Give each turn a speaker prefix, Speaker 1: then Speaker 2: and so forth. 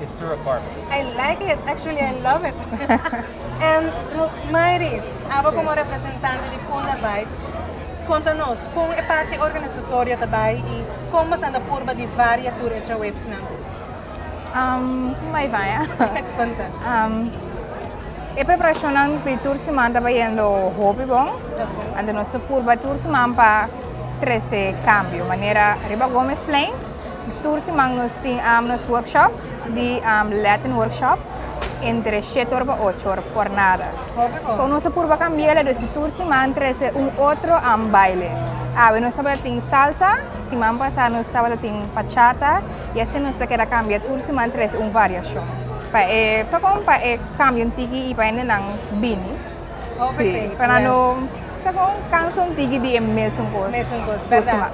Speaker 1: It's true apartment. I like it, actually I love it. And Ruth Mairis, abo como representante di Puna Vibes, conta nos con e parti organisatorio ta bay y con bo sanda purba di varia tur e trawegsnan? Um, como bay bay, eh? Conta. Um, e preparacionnan pi tur seman ta bayendo hopi bon. Okay. Ante nos ta purba tur seman pa trece cambio. Manera riba Gomez Plain, Tur siman nos tin nos workshop di Latin workshop entre shete or pa ocho or por nada. Kon nos a purba kambia la dus di tur siman trese un otro baile. Awe nos tabata tin salsa, siman pasa nos tabata tin pachata y asina nos ta keda kambia tur siman trese un variashon pa e sa kon pa e kambia un tiki y pa hendenan bini. Si, pa nan no sa kon kansa un tiki di e mesun kos tur siman.